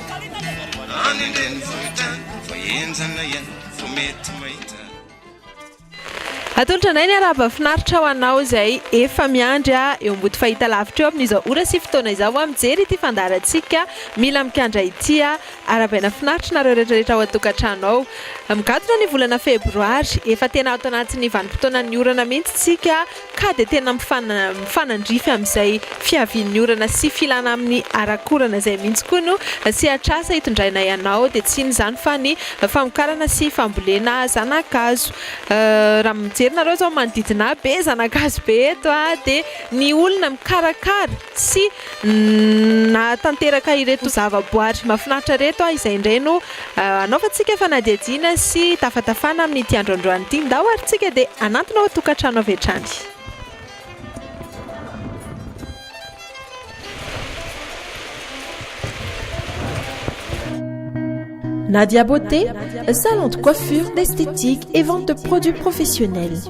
Any an-drenivohitra vao henjana iany vao mety mahita. Atolotra indray ny harahaba finaritra ho anao izay efa miandry ahy eo ambody fahitalavitra eo amin'izao ora sy fotoana izao aho mijery ity fandaharantsika mila mikandra ity aho arabaina finaritra nareo retraretra ao an-tokantrano ao migadona ny volana febroary efa tena ato anatin'ny vanim-potoanan'ny orana mihitsy tsika ka dia tena mifanandrify amin'izay fiavian'ny orana sy filana amin'ny arak'orana izay mihitsy koa no sehatr'asa itondrainay anao dia tsy inona izany fa ny famokarana sy fambolena zanakazo raha mijery nareo izao manodidina ahy be zanakazo be eto dia ny olona mikarakara sy nahatanteraka ireto zavaboary mahafinaritra ireto aho izay indray no hanaovantsika fanadihadiana sy hitafatafana amin'ity androandroany ity. Ndao ary isika dia hanantona ao an-tokantrano avy hatrany. Nadia Beauté, salon de coiffure, d'esthétique et vente de produits professionnels.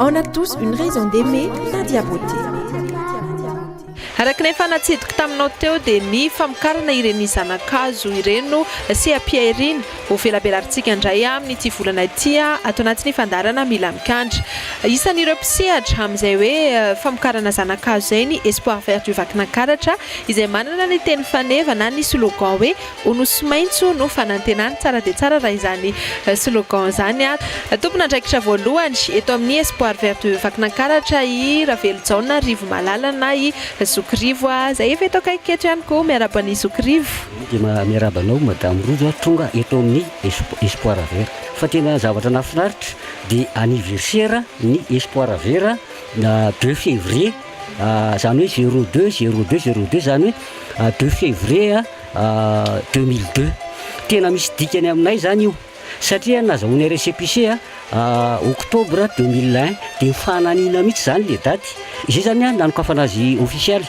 On a tous une raison d'aimer Nadia Beauté. Araka ny efa natsidiko taminao teo dia ny famokarana ireny zana-kazo ireny no seha-pihariana ho velabelarintsika indray amin'ity volana ity ato anatin'ny fandaharana Mila Mikandra. Isan'ireo mpisehatra amin'izay hoe famokarana zana-kazo izay ny Espoir Vert du Vakinankaratra izay manana ny teny faneva na ny slogan hoe Ho Nosy maitso no fanantenana. Tsara dia tsara raha izany slogan izany. Tompon'andraikitra voalohany eto amin'ny Espoir Vert de Vakinankaratra i Ravelojaona Rivomalala na i Zoky Rivo a! Izay efa eto akaiky eto ihany koa. Miarahaba an'i Zoky Rivo. Dia miarahaba anao Madame Rojo a! Tonga eto amin'ny Espoir Vert. Fa tena zavatra nahafinaritra dia anniversaire ny Espoir Vert na deux février izany hoe zero deux, zero deux, zero deux izany hoe deux février deux mille deux. Tena misy dikany aminay izany io, satria nazahoanay récépissé octobre deux mille un, dia ny fananina mihitsy izany ilay daty. Izay izany an, nanokafana azy ofisialy.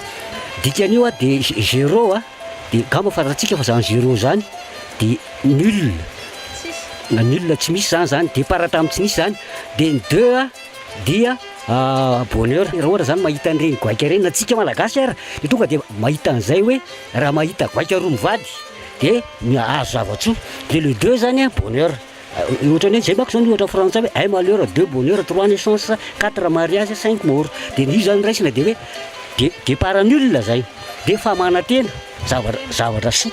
Dikan'io an, dia zéro an, dia gamba fa ratsika fa izany zéro izany dia nul, na nul tsy misy izany izany, départ tamin'ny tsy nisy izany. Dia ny deux an, dia bonheur, raha ohatra izany mahita an'ireny goaika ireny, na antsika malagasy ara, dia tonga dia mahita an'izay hoe, Raha mahita goaika roa mivady dia azo zava-tsoa, dia le deux zany a bonheur, ohatran'ny hoe zay manko zany ohatra frantsay hoe un malheur, deux bonheurs, trois naissances, quatre mariages, cinq morts, dia ny io zany raisina dia hoe de départ nul zay, dia famanantena, zavatra zavatra soa,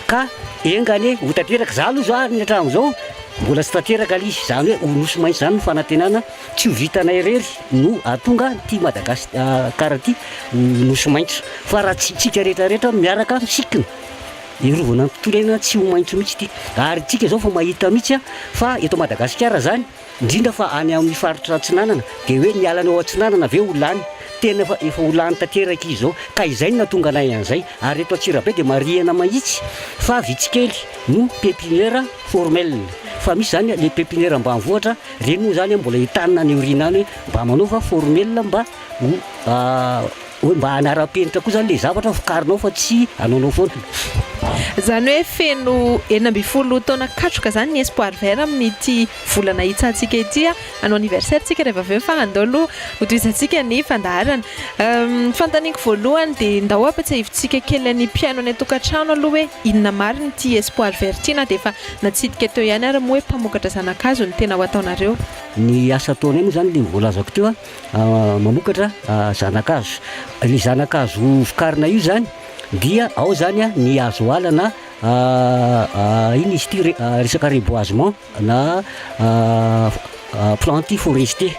ka enga anie ho tanteraka, za aloha za ny hatramin'izao mbola tsy tanteraka le izy, zany hoe ho nosy maitso zany ny fanantenana. Tsy ho vitanay irery no ahatonga an'ity Madagas kara ity ho nosy maitso, fa raha tsy tsika rehetra rehetra miaraka misikina hiarovana ny tontolo iainana tsy ho maitso mihitsy ity. Ary tsika zao vao mahita mihitsy fa eto Madagasikara zany indrindra fa any amin'ny faritra atsinanana dia hoe ny alany ao atsinanana ve ho lany? Tena fa efa ho lany tanteraka izy zao ka izay no nahatonga anay an'izay. Ary eto Antsirabe dia marihina mahitsy fa vitsy kely no pepiniera formel fa misy zany le pepiniera ambanivohitra Ireny moa izany mbola hitanina any aoriana any hoe mba manaova formel mba ho hoe mba hanaram-penitra koa izany ilay zavatra vokarinao fa tsy anaonao foana. Izany hoe feno enina ambin'ny folo taona katroka izany ny Espoir Vert amin'ity volana hitsahantsika ity. Hanao anniversaire isika rehefa avy eo fa andao aloha hotohizantsika ny fandaharana. Ny fanontaniako voalohany dia ndao ampiatsiahivintsika kely ny mpihaino any an-tokantrano aloha hoe inona marina ity Espoir Vert ity na dia efa Natsidika teo ihany ary moa hoe mpamokatra zana-kazo no tena ho ataonareo. Ny asa ataonay moa zany le voalazako teo mamokatra zana-kazo. Le zana-kazo vokarina io zany dia ao zany ny hazo ala na ino izy ity resaka reboisement na planti forestier.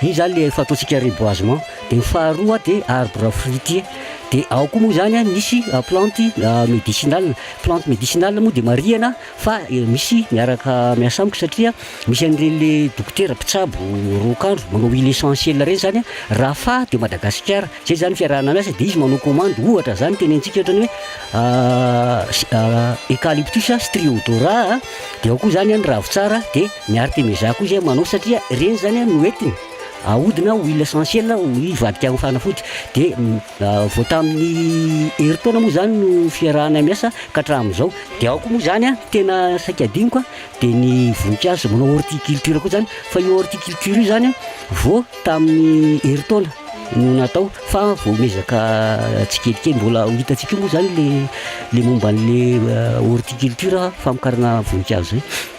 Io zany le efa ataontsika reboisement. De ny faharoa de arbre fruitier. De ao koa moa zany misy planti medicinal Plante médicinale moa dia marihana fa misy miaraka miasa amiko satria misy an'ireny le dokotera mpitsabo roa andro manao huile essentielle ireny zany a, raha faha teo Madagasikara, zay zany fiarahana miasa dia izy manao commande ohatra zany tenentsika ohatra ny hoe eucalyptus striodora a, dia ao koa zany an ny ravintsara dia ny artemeza koa zay manao satria ireny zany an no entiny ahodina huile essentielle hoy vadiko any fanafody dia. Vao tamin'ny herintaona moa izany no fiarahanay miasa ka hatramin'izao. Dia ao koa moa izany an, tena saika adinoko an, dia ny voninkazo manao horticulture koa izany. Fa io horticulture io izany an, vao tamin'ny herintaona no natao fa vao miezaka tsikelikely. Mbola ho hitantsika eo moa izany ilay momba an'ilay horticulture, famokarana voninkazo izay.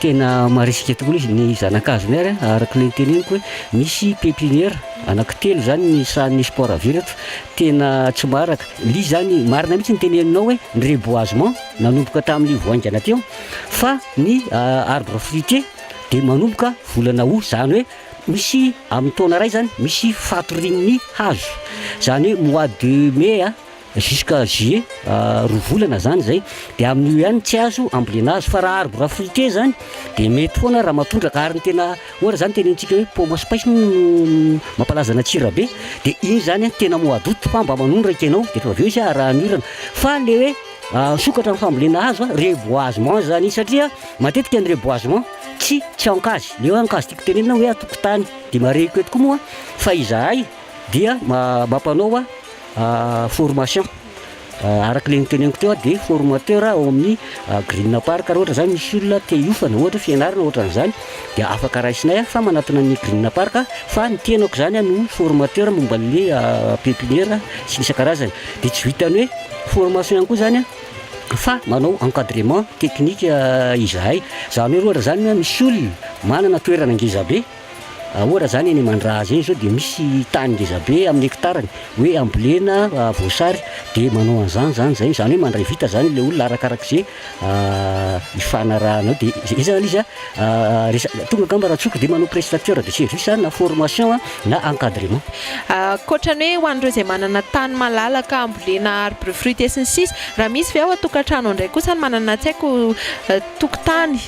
Tena marisika tokoa izy ny zanakazony ary araka ilay noteneniko hoe misy pepiniera anaky telo izany ny sahan'ny sport à vide eto tena tsy maraka lia izany marina mihitsy ny teneninao hoe ny reboisement nanomboka tamin'ny vao haingana teo fa ny euh, arbre fruitier dia manomboka volana août izany hoe misy amin'ny taona iray izany misy fatorian'ny hazo izany hoe mois de mai a Jusqu'à juillet, roa volana zany izay, dia amin'io ihany tsy azo ambolena azy, fa raha arbre à fruitier zany dia mety foana raha matondraka, ary ny tena ohatra zany tenenitsika hoe pomme à spice moa no mampalaza an'Antsirabe, dia iny zany an tena mois d'aout fa mba manondraka ianao dia efa avy eo izy arahan'ny orana, fa le hoe misokatra amin'ny fambolena hazo an, reboisement zany izy, satria matetika ny reboisement tsy tsy an-kazy, le hoe an-kazy tiako tenenina hoe an-tokotany, dia marihiko eto koa moa fa izahay dia mampanao Formation, araka ilay noteneniko teo dia formateur ao amin'ny Green Park raha ohatra zany misy olona te hiofana ohatra hoe fianarana ohatran'izany dia afaka raisinay fa manatona ny Green Park fa ny tenako zany no formateur momba an'le pepiniera sy ny isan-karazany dia tsy vitan'ny hoe formation ihany koa zany fa manao encadrement technique izahay, zany hoe ohatra zany misy olona manana toerana ngezabe. Ahoana izany eny Mandrahaza eny izao dia misy tany ngeza be amin'ny hektarany hoe ambolena voasary dia manao an'izany izany izay izany hoe mandray vita izany ilay olona arakarak'izay hifanarahana eo dia izay izany izy resa- tonga angamba raha tsotra dia manao prestateur de service na formation na encadrement. Ankoatra ny hoe ho an'ireo izay manana tany malalaka ambolena arbre fruitier sy ny sisa, raha misy ve ao an-tokantrano indray kosa ny manana tsy haiko tokotany,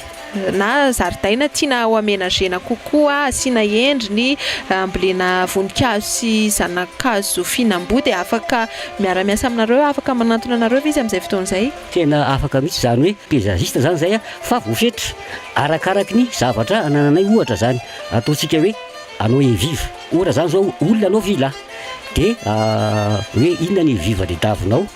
na zaridaina tiana ho amenagena kokoa, asiana endriny, ambolena voninkazo sy zana-kazo fihinam-boa dia afaka miara-miasa aminareo aho, afaka manantona anareo ve izy amin'izay fotoana izay? Tena afaka mihitsy, izany hoe paysagiste izany izay fa voafetra arakaraky ny zavatra anananay, ohatra izany ataontsika hoe anao eviva, ohatra izany izao olona anao villa dia hoe inona ny eviva-ny davinao?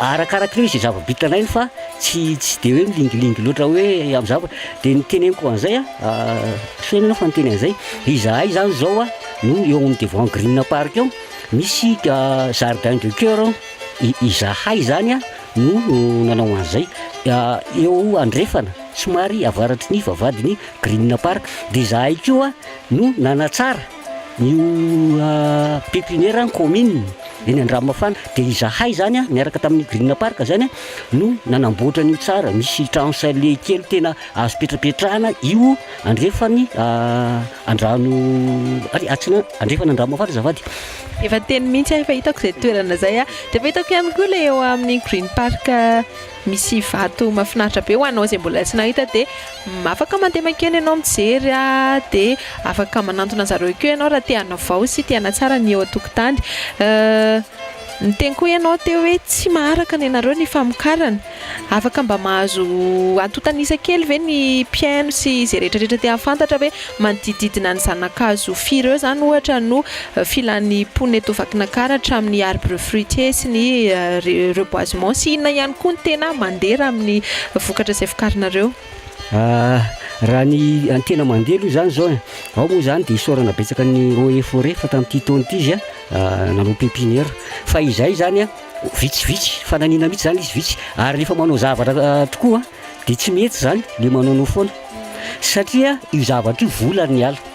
Arakarakin'io izay zava-bita alainy fa tsy tsy dia hoe milingilingy loatra hoe amin'ny zava-, dia ny teneniko an'izay a, feno ianao fa niteny an'izay, izahay zany zao a no eo amin'ny devant green park eo misy jardin de coeur ao, i- izahay zany a no nanao an'izay, eo andrefana somary avaratry ny vavahadin'ny green park, dia izahay koa no nanatsara Io pepiniera ny kaominina eny Andramafana dia izahay izany niaraka tamin'ny Green Park izany no nanamboatra an'io tsara, misy trano chalet kely tena azo ipetrapetrahana io andrefan'ny andrano ary atsinanana andrefana Andramafana azafady. Efa teny mihitsy aho efa hitako izay toerana izay, dia efa hitako ihany koa ilay eo amin'ny Green Park. Misy vato mafinaritra be ho anao izay mbola tsy nahita dia afaka mandeha mankeny ianao mijery dia afaka manantona an-dry zareo akeo ianao raha te hanavao sy te hanatsara ny eo an-tokotany. Niteny koa ianao teo hoe tsy maharaka ny anareo ny famokarana. Afaka mba mahazo antontanisa kely ve ny mpihaino sy izay rehetra rehetra te hahafantatra hoe Manodididina ny zana-kazo firy eo izany ohatra no filan'ny mponina eto Vakinankaratra hatramin'ny arbre fruitier sy ny reboisement sy inona ihany koa ny tena mandera amin'ny vokatra izay vokarinareo? Raha ny tena mandeha aloha izany izao e, ao moa izany dia isaorana betsaka ny eaux et forêts fa tamin'ity taona ity izy nanao pepinière fa izay izany vitsivitsy, fananina mihitsy izany izy vitsy ary rehefa manao zavatra tokoa. dia tsy mety izany dia manaonao foana satria io zavatra io vola ny ala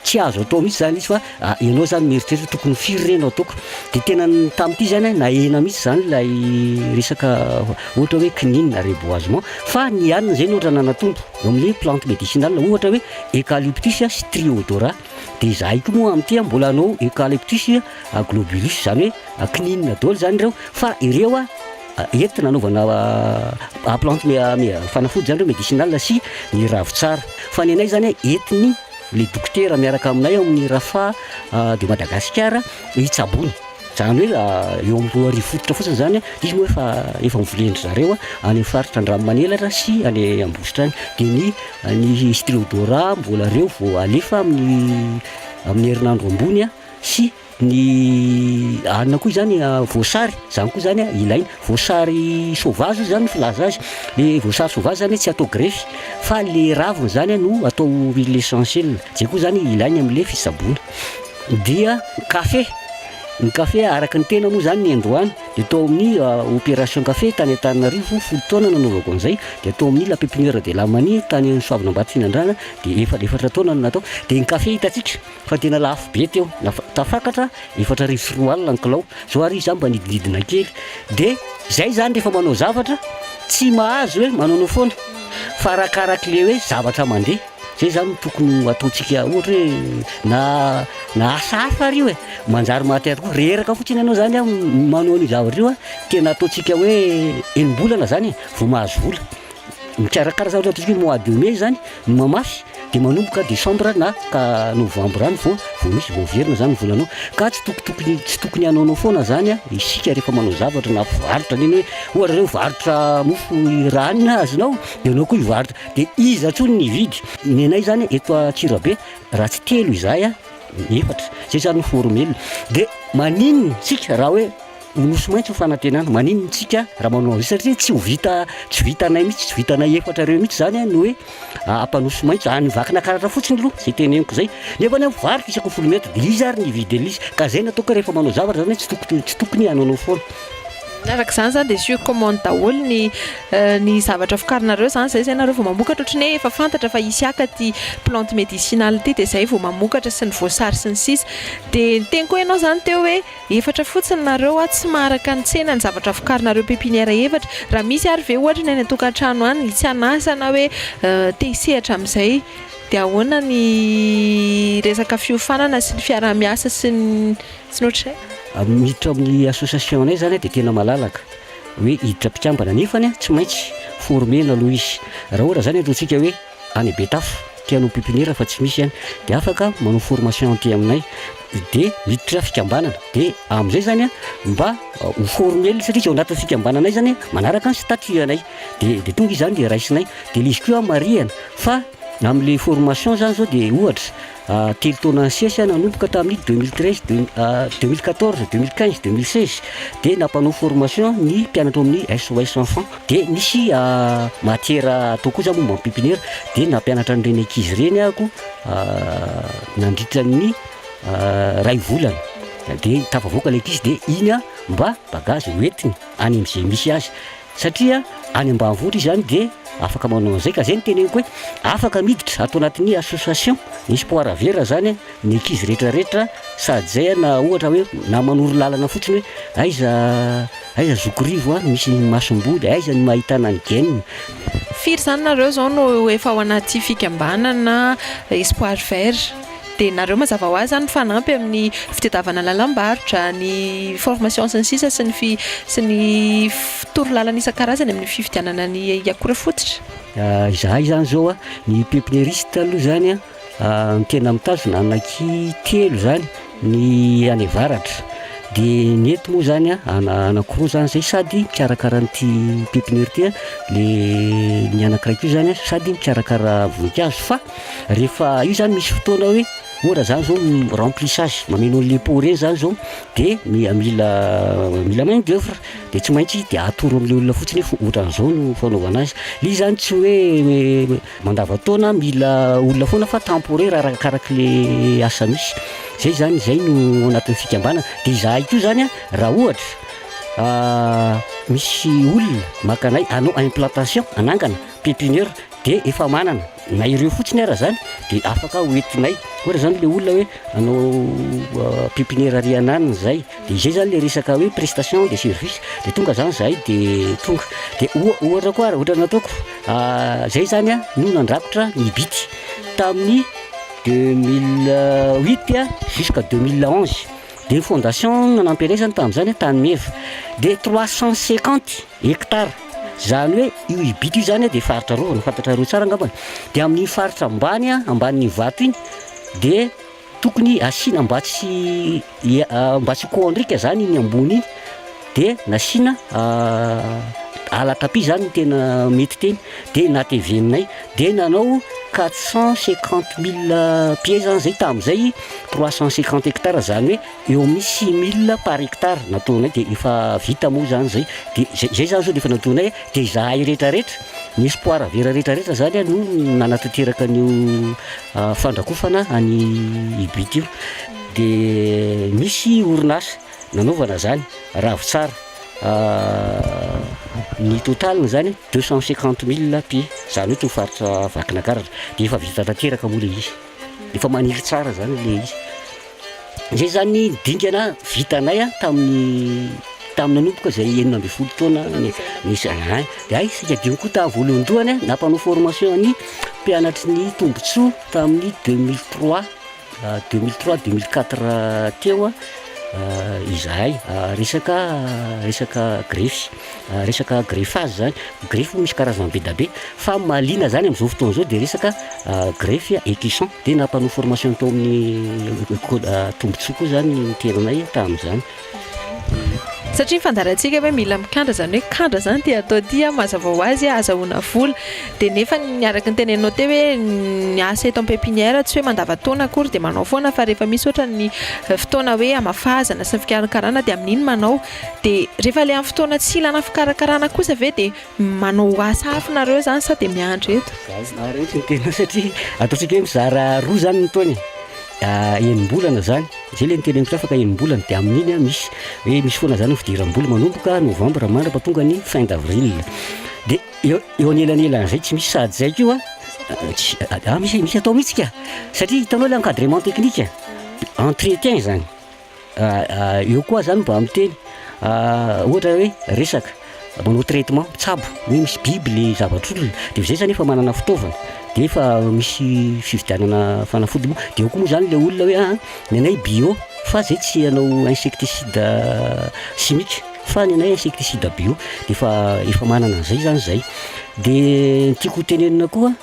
tsy azo atao mihitsy zany izy fa ah, ianao zany mieritreritra tokony firy re no ataoko dia tena tamin'ity zany nahena mihitsy zany ilay resaka ohatra hoe kininina reboisement fa ny hanina zay no ohatra nanatombo eo amin'ny plante médicinale ohatra hoe eucalyptus sy triodora dia zahay koa moa amin'ity a mbola anao eucalyptus a globulus zany hoe kininina daholo zany ireo fa ireo a Hety nanaovana plante fanafody zany reo medicinal sy ny ravitsara fa ny anay zany hety ny le dokotera miaraka aminay ao amin'ny Rafa de Madagasikara hitsaboana zany hoe eo amin'ny roa arivo fototra fotsiny zany izy moa efa efa novolendry zareo any amin'ny faritra Andranomanelatra sy any Ambositra any de ny ny striodora mbola reo vao alefa amin'ny amin'ny herinandro ambony sy Ny alina koa izany voasary, izany koa izany ilaina. Voasary sauvage hoy izany ny filaza azy. Ilay voasary sauvage izany tsy atao grefy, fa ilay raviny izany no atao huile essentielle. Izay koa izany ilaina amin'ilay fitsaboana. Dia ny kafe, ny kafe araka ny tena moa izany ny indroany, dia tao amin'ny opération kafe tany Antananarivo, folo taona no nanaovako an'izay, dia tao amin'ny la pépinière de la manie tany Soavinambatofinandrana, dia efa efatra taona no natao. Dia ny kafe hitantsika. Fa tena lafo be teo, tafakatra efatra arivo sy roa alina ny kilao, zao ary izy zany mba nidinidina kely, de zay zany rehefa manao zavatra tsy mahazo hoe manaonao foana, fa arakaraky le hoe zavatra mandeha, zay zany no tokony ho ataontsika ohatra hoe na na asa hafa ary io e, manjary mahatery koa, reraka fotsiny ianao zany manao an'io zavatra io a, tena ataontsika hoe enim-bolana zany e vao mahazo vola. Mikarakara zavatra ataontsika hoe mois de mai zany, mamafy de manomboka décembre na ka novembre any vao vao misy vao averina zany ny volanao, ka tsy toko tokony tsy tokony hanaonao foana zany a isika rehefa manao zavatra na varotra ny anao hoe ohatra zao hivarotra mofo i ra ny azonao de anao koa hivarotra de iza tsony ny hividy, ny anay zany eto Antsirabe raha tsy telo izahay a efatra, zay zany no formel, de maninona tsika raha hoe Ho nosy maitso ny fanantenana. Maninona tsika raha manao an'izay satria tsy ho vita tsy vitanay mihitsy tsy vitanay efatra ireo mihitsy izany ny hoe ampanosy maitso any vakina karatra fotsiny aloha izay teneniko izay nefa ny variko isako folo mètre dia izy ary ny vide l'izy ka izay natao koa rehefa manao zavatra izany tsy tokony tsy tokony hanaonao foana araka izany izany dia sur commande daholo ny euh, ny zavatra vokarinareo izany izay izay nareo vao mamokatra ohatry ny hoe efa fantatra fa hisy haka ty plante médicinale ty dia izay vao mamokatra sy ny voasary sy ny sisa dia ny teny koa ianao izany teo hoe Efatra fotsiny nareo a, tsy maharaka ny tsena ny zavatra vokarinareo pepinière efatra, raha misy ary ve ohatra ny any an-tokantrano any tsy an'asa na hoe te hisehatra amin'izay dia ahoana ny resaka fiofanana sy ny fiaraha-miasa sy ny tsy ny ohatr'izay? Miditra ao amin'ny association-nay izany dia tena malalaka hoe hiditra mpikambana nefany tsy maintsy former-na aloha izy, raha ohatra izany ataontsika hoe. any Betafo ity hanao pipiniera fa tsy misy any dia afaka manao formation aty aminay dia miditra fikambanana dia amin'izay zany a mba ho formel satria izy ao anatin'ny fikambananay zany manaraka ny statut anay dia dia tonga izany dia raisinay dia le izy koa marihana fa amin'le formation zany zao dia ohatra Telo taona nisesy aho nanomboka tamin'ny deux mille treize, deux mille quatorze, deux mille quinze, deux mille seize dia nampanao formation ny mpianatra ao amin'ny SOS Enfants. Dia nisy matière atao koa za momba ny pépinière dia nampianatra an'ireny ankizy ireny aho nandritra ny iray volana. Dia tafavoaka ilay ankizy dia iny aho mba bagage hoentiny any amin'izay misy azy. Satria any ambanivohitra izy any dia afaka manao an'izay ka zay no teneniko hoe afaka miditra ato anatin'ny association ny sport vera zany ny ankizy rehetra rehetra sady zay a na ohatra hoe na manoro lalana fotsiny hoe aiza aiza zokirivo a misy masomboly aiza no ahitana ny game Firy izany nareo izao no efa ao anaty fikambanana espoir vert? Dia nareo mazava ho azy izany mifanampy amin'ny fitadiavana lalam-barotra, ny formation sy ny sisa sy ny fi, sy ny toro lalana isan-karazany amin'ny fividianana ny akora fototra? Izahay izany izao an, ny pepinieriste aloha izany an, tena mitazona anaky telo izany ny any avaratra, dia ny eto moa izany an, anakiroa izany izay sady mikarakara an'ity pepiniera ity an, dia ny anakiray koa izany an sady mikarakara voninkazo fa, Rehefa io zany misy fotoana hoe ohatra zany zao remplissage mameno an'le pot reny zany zao de mila mila main d'oeuvre de tsy maintsy de atoro am'le olona fotsiny hoe ohatran'zao no fanaovana azy. Izy zany tsy hoe mandavan-taona mila olona foana fa temporaire arakaraky le asa misy. Zay zany zay no ao anatin'ny fikambanana. De izahay koa zany a raha ohatra misy olona maka anay hanao implantation hanangana pépinière de efa manana Na ireo fotsiny ara zany de afaka ho entinay ohatra zany le olona hoe anao pipiniere ary ananiny zay de izay zany le resaka hoe prestation de service de tonga zany zahay de tonga de oha- ohatra koa raha ohatra nataoko zay zany a no nandrakotra ny bity tamin'ny deux mille huit a jusqu'à deux mille onze de ny fondation no nanampy anay zany tamin'izany tany meva de trois cent cinquante Hektara. Izany hoe io Ibity io izany dia faritra arovana, fantatrareo tsara angamba e. Dia amin'iny faritra ambany, ambanin'iny vato iny, dia tokony asiana mba tsy mba tsy hikoandrika izany iny ambony iny, dia nasiana ala tapis izany no tena mety teny, dia nateveninay, dia nanao quatre cent cinquante mille pieds izany izay tamin'izay, trois cent cinquante hectares izany hoe, Eo amin'ny six mille par hectare nataonay dia efa vita moa izany izay, dia izay izay izany izao dia efa nataonay, dia izahay rehetrarehetra, ny espoir vera rehetrarehetra izany no nanatanteraka an'io fandrakofana an'i Ibit io, dia misy orinasa nanaovana izany, Ravitsara, ny total-ny izany deux cent cinquante mille pi, izany hoe itony faritra Vakinakaratra, dia efa vita tanteraka moa ilay izy. Efa maniry tsara zany le izy. Zay zany dingana vitanay a tamin'ny tamin'ny nanomboka zay enina ambin'ny folo taona nisy an. De hay isika dimy koa tamin'ny voalohandohany a nampanao formation ny mpianatry ny tombontsoa tamin'ny deux mille trois deux mille trois deux mille quatre teo izahay resaka resaka grefy. resaka greffage zany, greffe moa misy karazany be da be, fa mahaliana zany amin'izao fotoana izao dia resaka greffe ecuson, dia nampanao formation tao amin'ny code tombontsoa koa zany ny toeranay tamin'izany. Satria ny fandaharantsika hoe mila mikandra, izany hoe kandra izany ity atao ity, mazava ho azy ahazahoana vola, dia nefa ny araka ny teneninao teo hoe ny asa eto am-pepinière tsy hoe mandavan-taona akory dia manao foana fa rehefa misy ohatra ny fotoana hoe hamafazana sy ny fikarakarana dia amin'iny manao, Dia rehefa ilay amin'ny fotoana tsy ilana fikarakarana kosa ve dia manao asa hafa nareo izany sa dia miandry eto? Za ary eto ny tena satria ataontsika hoe mizara roa izany ny taona e. Enim-bolana izany, izay ilay niteny amintsika fa ka enim-bolana dia amin'iny misy hoe misy foana izany ny fidiram-bola manomboka novambra mandrapa tonga ny fin d'avril. Dia eo eo anelanelan'izay tsy misy sahady izay koa tsy misy misy atao mihitsy ka! Satria hitanao ilay encadrement technique, entretien izany. Eo koa zany mba miteny ohatra hoe resaka manao traitement mitsabo hoe misy biby le zavatr'olona de zay zany efa manana fitaovana de efa misy fividianana fanafody moa de eo koa moa zany le olona hoe a ah, ny anay bio fa zay tsy anao insecticide chimique fa ny anay insecticide bio de efa efa manana an'izay zany zay de ny tiako hotenenina koa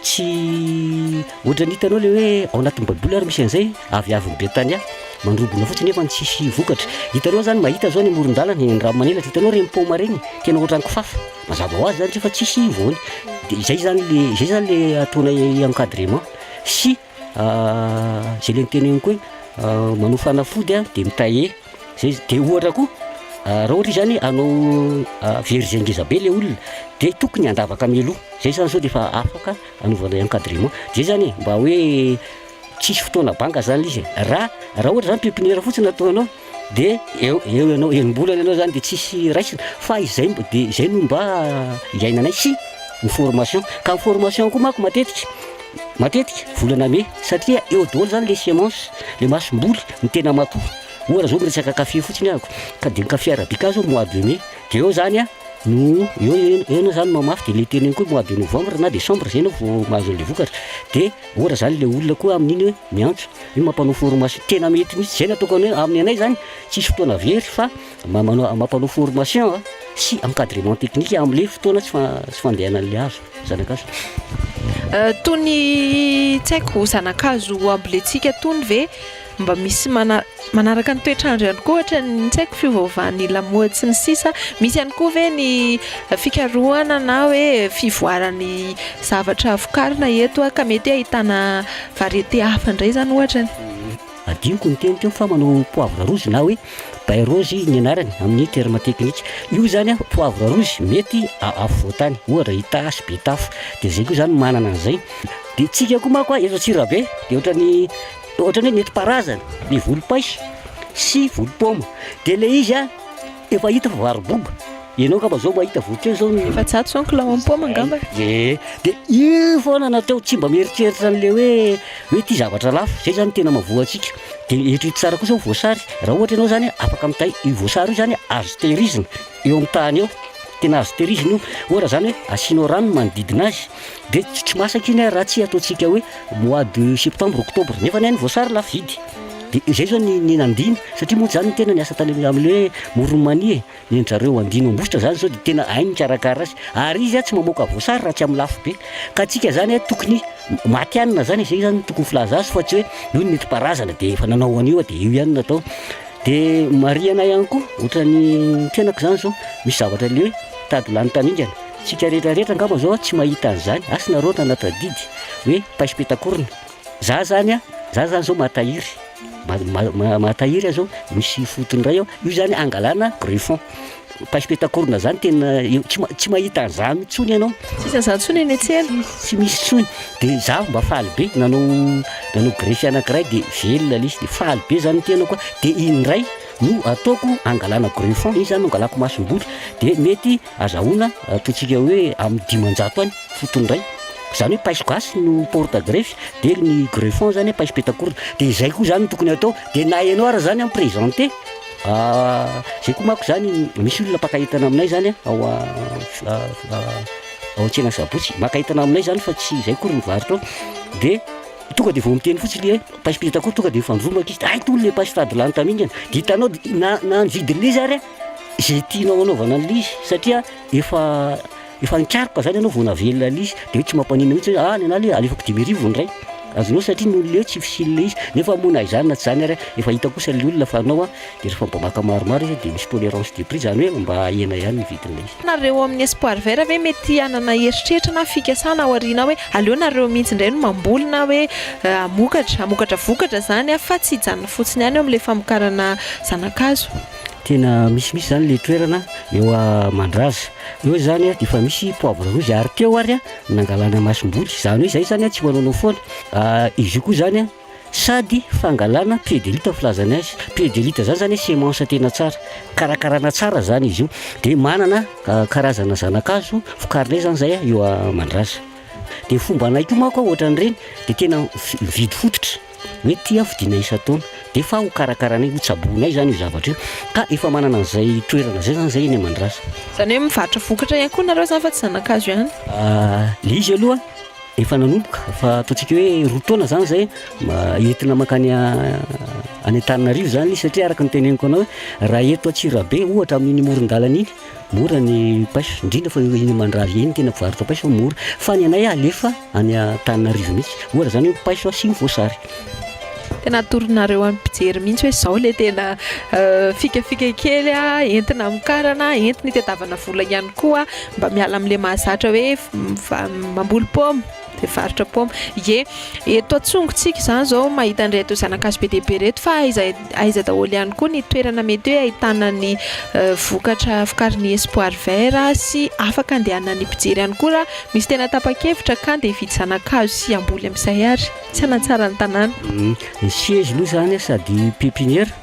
Tsy ohatran'ny hitanao le hoe ao anatin'ny baiboly ary misy an'izay aviavin'i Betania mandrobona fotsiny nefa tsisy vokatra. Hitanao zany mahita zao ny amoron-dalana eny Raomanelatra, hitanao reny paoma reny, tena ohatran'ny kifafa. Mazava ho azy zany rehefa tsisy voany. De izay zany le izay zany le ataonay encadrement sy Zay le niteneniko hoe manao fanafody de mitailler zay izy, de ohatra koa raha ohatra izy zany hanao verger ngeza be le olona de tokony handavaka mialoha, zay zany sao de efa afaka anaovanay encadrement, zay zany e mba hoe tsisy fotoana banga zany le izy e, ra raha ohatra zany pepiniera fotsiny ataonao Dia eo eo ianao enim-bolana ianao zany dia tsisy raisina fa izay mb- dia izay no mba iainanay sy ny formation. Ka ny formation koa manko matetika matetika volana mey satria eo daholo zany le semence, le masomboly, ny tena matoa. Ohatra zao miresaka café fotsiny ahako ka dia ny café arabica zao mois de mey dia eo zany a no eo eo eo ianao zany no mamafy dia le teneniko hoe mois de novembre na decembre zay ianao vao mahazo an'le vokatra dia Ora zany le olona koa amin'iny hoe miantso, io mampanao formation tena mety mihitsy, zay no ataoko anay, amin'ny anay zany tsisy fotoana very fa mampanao formation sy encadrement technique amle fotoana tsy fandehananle hazo, zanakazo. Tony tsy haiko zanakazo amboletsika tony ve? Mba misy mana manaraka ny toetr'andro ihany koa ohatra ny tsy haiko fiovaovan'ny lamaody sy ny sisa misy ihany koa ve ny fikarohana na hoe fivoaran'ny zavatra vokarina eto ka mety hoe ahitana variété hafa indray izany ohatra e. Hadinoko niteny teo fa manao poivre rouge na hoe bay rose ny anarany amin'ny terme technique. Io izany an, poivre rouge mety afovoantany ohatra Itasy, Betafo dia izay koa izany manana an'izay. Dia isika koa manko an, eto Antsirabe dia ohatran'ny. Ohatrany hoe nentim-paharazana ny volom-paiso sy volom-paoma dia ilay izy an efa hita fa vary boba, ianao angamba zao mahita avokeo zao ny. Efajato zao ny kilao amin'ny paoma angamba e. Ee, dia io foana no atao tsy mba mieritreritra an'ilay hoe hoe ity zavatra lafo, izay zany no tena mahavoa antsika. Dia eritrereto tsara kosa ny voasary, raha ohatra ianao zany afaka mitay io voasary io zany azo tehirizina eo amin'ny tany eo, tena azo tehirizina io, ohatra zany hoe asianao rano ny manodidina azy, Dia tsy masaka iny ary raha tsy ataontsika hoe mois de septembre, octobre, nefa ny voasary lafo vidy. Dia izay izao ny ny nandiany, satria moa izany ny tena niasa tany amin'ny amin'ny hoe moron'ny mania e, ny an-dry zareo andiany ambositra izany izao dia tena hainy mikarakara azy, ary izy tsy mamoaka voasary raha tsy amin'ny lafo be, ka antsika izany tokony matihanina izany e, izay izany no tokony filaza azy fa tsy hoe io no nentim-paharazana dia efa nanao an'io aho dia io ihany no atao. Dia marihana ihany koa, ohatran'ny tenako izany izao, misy zavatra le hoe tady lany tamingana. Tsika rehetra rehetra angamba zao tsy mahita an'izany, asa nareo nanatr adidy hoe paiso petakorona, za zany a, za zany zao mahatahiry, mahatahiry aho zao misy fotony ray ao, io zany angalana greffon, paiso petakorona zany tena tsy mahita an'izany intsony ianao, tsisy an'izany intsony eny an-tsena, tsy misy intsony, dia za mba faly be nanao nanao greffe anakiray dia velona le izy dia faly be zany ny tenako dia iny indray no ataoko angalana greffon, iny zany no angalako masom-bola dia mety Azahoana ataontsika hoe amin'ny dimanjato any fotony iray, izany hoe paiso gasy no porte greffe, dia ny greffon izany paiso petak'orona, dia izay koa izany no tokony atao, dia na ianao ary izany mi-presenter, izay koa manko izany, misy olona mpaka entana aminay izany ao ao an-tsena sabotsy, maka entana aminay izany fa tsy izay akory ny varotra ao, dia tonga dia vao miteny fotsiny le hoe paiso petak'orona, tonga dia mifandrombaka izy, hay tony le paiso sady lany tamingana, dia hitanao na na ny vidin'ilay izy ary an. Izay tianao hanaovana an'ilay izy satria efa efa nikaroka izany ianao vao navelona ilay izy, dia hoe tsy mampaninona mihitsy hoe any anah le alefako dimy arivo ny iray, azonao satria ny olona eo tsy fisian'ilay izy, nefa moa na izany na tsy izany ary efa hita kosa ilay olona fa anao an, dia rehefa mba maka maromaro izy dia misy tolérance de prix, izany hoe mba ahena ihany ny vidin'ilay izy. Nareo amin'ny Espoir Vert ve mety hanana heritreritra na fikasana aoriana hoe aleo nareo mihitsy indray no mamboly na hoe hamokatra, hamokatra vokatra izany fa tsy hijanona fotsiny ihany eo amin'ilay famokarana zana-kazo? Tena misimisy zany le toerana eo Mandraza. Eo izany dia efa misy poivre rouge ary teo ary nangalana masomboly. Izany hoe izay izany tsy manaonao foana. Izy io koa izany sady fangalana pied de luth filazany azy. Pied de luth izany izany hoe semence tena tsara, karakarana tsara izany izy io. Dia manana karazana zana-kazo vokarinay izany izay eo Mandraza. Dia ny fombanay koa manko ohatran'ireny dia tena mividy fototra. Hoe ity aho fidinay isan-taona, dia efa ho karakaranay, ho tsaboinay izany io zavatra io. Ka efa manana an'izay toerana izay izany izahay eny Mandrasa. Izany hoe mivarotra vokatra ihany koa nareo izany fa tsy zana-kazo ihany? Ilay izy aloha efa nanomboka, fa ataontsika hoe roa taona izany izay entina mankany any Antananarivo izany izy, satria araka ny teneniko anao hoe raha eto Antsirabe ohatra amin'iny moron-dalana iny Mora ny paiso, indrindra fa iny mandravy iny tena mpivarotra paiso mora, fa ny anay alefa any Antananarivo mihitsy, ohatra zany hoe paiso sy ny voasary. Tena atoronareo amin'ny mpijery mihitsy hoe izao ilay tena fikafika kely entina hamokarana, entina hitadiavana vola ihany koa mba miala amin'ilay mahazatra hoe mamboly paoma. Mpivarotra paoma. Ie, eto antsongontsika izany izao mahita an'ireto zanakazo be dia be ireto fa aiza aiza daholo ihany koa ny toerana mety hoe ahitana ny vokatra vokarin'ny Espoir Vert sy afaka andehanan'ny mpijery ihany koa raha misy tena tapa-kevitra ka andeha hividy zanakazo sy hamboly amin'izay ary tsy hanatsara ny tanàna. Ny siège aloha izany sady pépinière.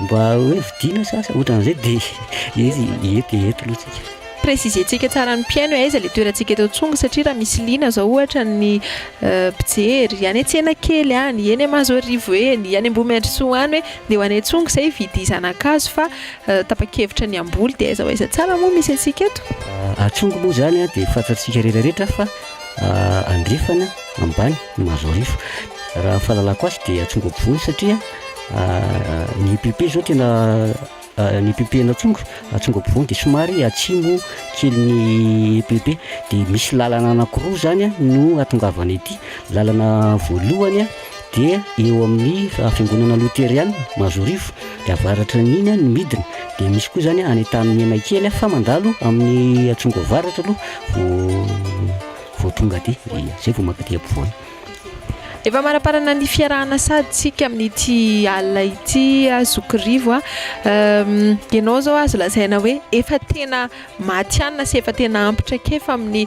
Mba hoe vidiana sa asa otran'izay de izy eto e eto lo tsika. Préciser-tsika tsara ny mpihaino hoe aiza ilay toerantsika eto Tsongo satria raha misy liana zao ohatra ny mpijery any an-tsena kely any, eny Mahazoarivo eny, any Ambohimandrosoa any hoe ndeha ho any Tsongo zay hividy zana-kazo fa tapa-kevitra ny hamboly de aiza ho aiza tsara moa misy antsika eto? A Tsongo moa zany de fantatsika retraretra fa andrefana ambany Mahazoarivo raha fahalalako azy de Tsongo ampovoany satria Ny EPP zao tena ny EPP an'Atsonga, Atsonga ampovoany de somary atsimo kely ny EPP de misy lalana anankiroa zany a no ahatongavana ety, lalana voalohany a de eo amin'ny fiangonana loteriana Mazoarivo de avaratra an'iny a no midina de misy koa zany any Antanimena kely a fa mandalo amin'ny Atsonga avaratra aloha vao vao tonga aty, zay vao mankaty ampovoany. Efa amaraparana ny fiarahana sady tsika amin'ity alina ity aho zoky Rivo a! ianao izao azo lazaina hoe efa tena matihanina sy efa tena ampy traikefa amin'ny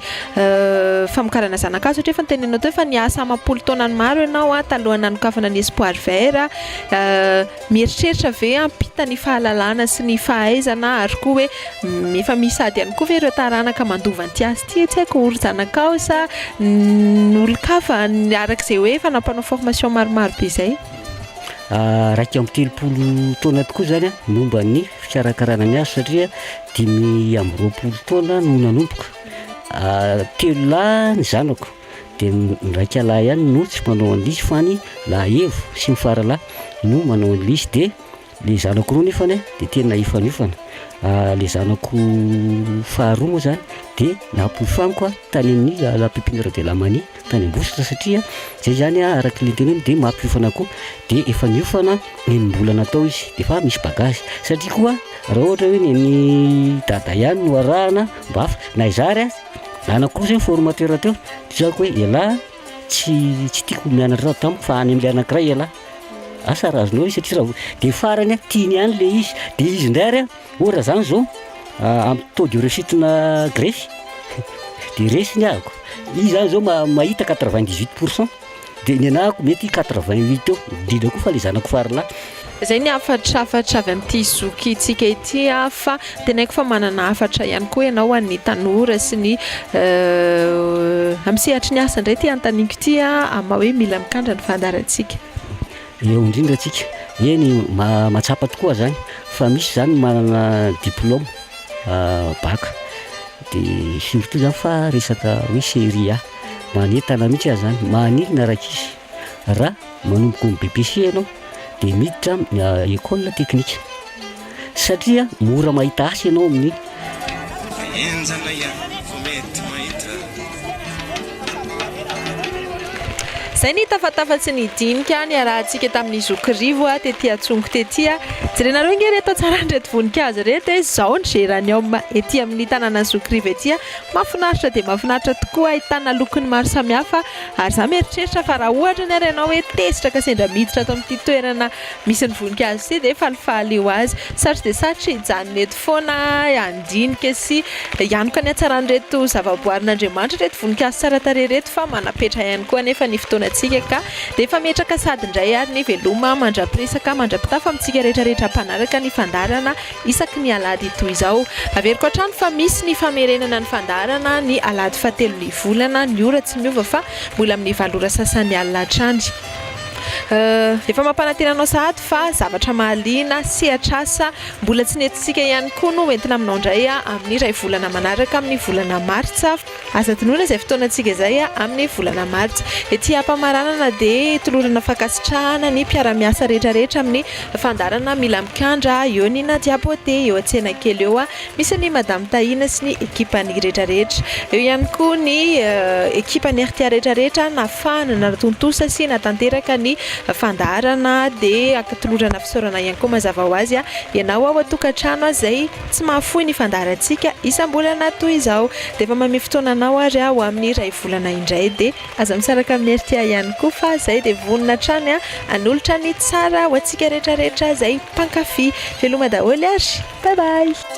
famokarana zana-kazo satria efa noteneninao teo fa niasa amam-polo taonany maro ianao a! talohan'ny nanokafana ny espoir vert a! Mieritreritra ve hampita ny fahalalana sy ny fahaizana ary koa hoe efa misy ady ihany koa ve ireo taranaka mandova an'ity asa ity tsy haiko ho ry zanakao sa ny olon-kafa araka izay hoe efa nampanao formation maromaro be izay? Iraika amby telopolo taona tokoa izany an, ny momba ny fikarakarana ny asa satria dimy amby roapolo taona no nanomboka, telo lahy ny zanako. Dia ny raika lahy ihany no tsy mpanao an'lisy fa ny lahahevo sy ny faralahy no manao an'lisy. Dia le zanako roa nefany an dia tena hifaniofana. Le zanako faharoa moa zany dia nampiofaniko an tany amin'ny la pépinière de la manie tany Ambositra satria zay zany an araky le teneniny dia mampiofana koa. Dia efa niofana enim-bolana tao izy dia efa misy bagage. Satria koa raha ohatra hoe ny an'i Dada ihany no arahana mba haf- na izaho ary an. Ana kosa io formateur teo, tiako hoe elah tsy tsy tiako mianatra raha tamiko fa any amin'ilay anankiray elah. Asa raha azonao izy satria raha dia farany tiany ihany ilay izy, dia izy indray ary oh raha zany zao amin'ny taux de réussite-na grefy dia resy ny ahiko, izy zany zao mahita quatre vingt dix huit pour cent. Dia nenahako mety quatre vingt huit eo, indrindra koa fa ilay zanako farilahy. Izay ny hafatrafatra avy amin'ity zokintsika ity fa teneniko fa manana hafatra ihany koa ianao ho an'ny tanora sy ny amin'ny sehatry ny asa indray ity anontaniako ity amin'ny maha hoe mila mikandra ny fandaharantsika. Eo indrindra antsika, eny mahatsapa tokoa izany fa misy izany ny manana diplaoma bac dia surtout izany fa resaka hoe serie A. Manentana mihitsy aza zany, maninona rakisy ra manomboka ny BPC ianao de miditra am ecole teknika satria mora mahita asa ianao amin'ny Enjana ihany vao mety mahita. Zay ny tafatafatry ny dinika niarahantsika tamin'ny zokirivo tety antsongo tety. Jerenareo nge re tantsaran'ireto voninkazo ireto e, zao ny geranium ety amin'ny tananan'ny zokirivo ety. Mafinaritra dia mafinaritra tokoa ahitana lokony maro samihafa ary za mieritreritra fa raha ohatra anie ary ianao hoe tezitra ka sendra miditra ato amin'ity toerana misy ny voninkazo ity dia falifaly ho azy. Sarotra dia sarotra hijanona eto foana handinika sy hianoka ny hatsaran'ireto zavaboarin'Andriamanitra ireto voninkazo tsara tarehy ireto fa manapetra ihany koa anefa ny fotoanantsika ka dia efa metraka sady indray ary ny veloma mandra-piresaka mandra-pitafa amintsika rehetra rehetra mpanaraka ny fandaharana isaky ny alahady toy izao. Averiko hatrany fa misy ny famerenana ny fandaharana ny alahady fahatelo ny volana, ny ora tsy miova fa mbola amin'ny valo ora sasany alina hatrany. Efa mampanantena anao sahady fa zavatra mahaliana, sehatr'asa mbola tsy nentintsika ihany koa no ho entina aminao indray amin'ny iray volana manaraka amin'ny volana martsa. Aza adinoina izay fotoanantsika izay amin'ny volana martsa. Ety Ampamaranana dia tolorana fankasitrahana ny mpiara-miasa rehetrarehetra amin'ny fandaharana Mila Mikandra eo ny Nadia Beauté eo an-tsenakely eo. Misy an'i Madame Tahina sy ny ekipany rehetrarehetra. Eo ihany koa ny ekipan'ny rta rehetrarehetra nafahana, natontosa sy natanteraka ny fandaharana dia ankatolorana fisaorana ihany koa mazava ho azy ianao ao an-tokantrano izay Tsy mahafoy ny fandaharantsika isam-bolana toy izao. Dia efa mamia fotoana anao ary aho amin'ny iray volana indray. Dia aza misaraka amin'ny RTI ihany koa fa izay dia vonona hatrany hanolotra ny tsara ho antsika rehetra rehetra izay mpankafy. Veloma daholo ary. Bye bye.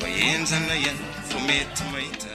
Fa enjana ihany vao mety mahita.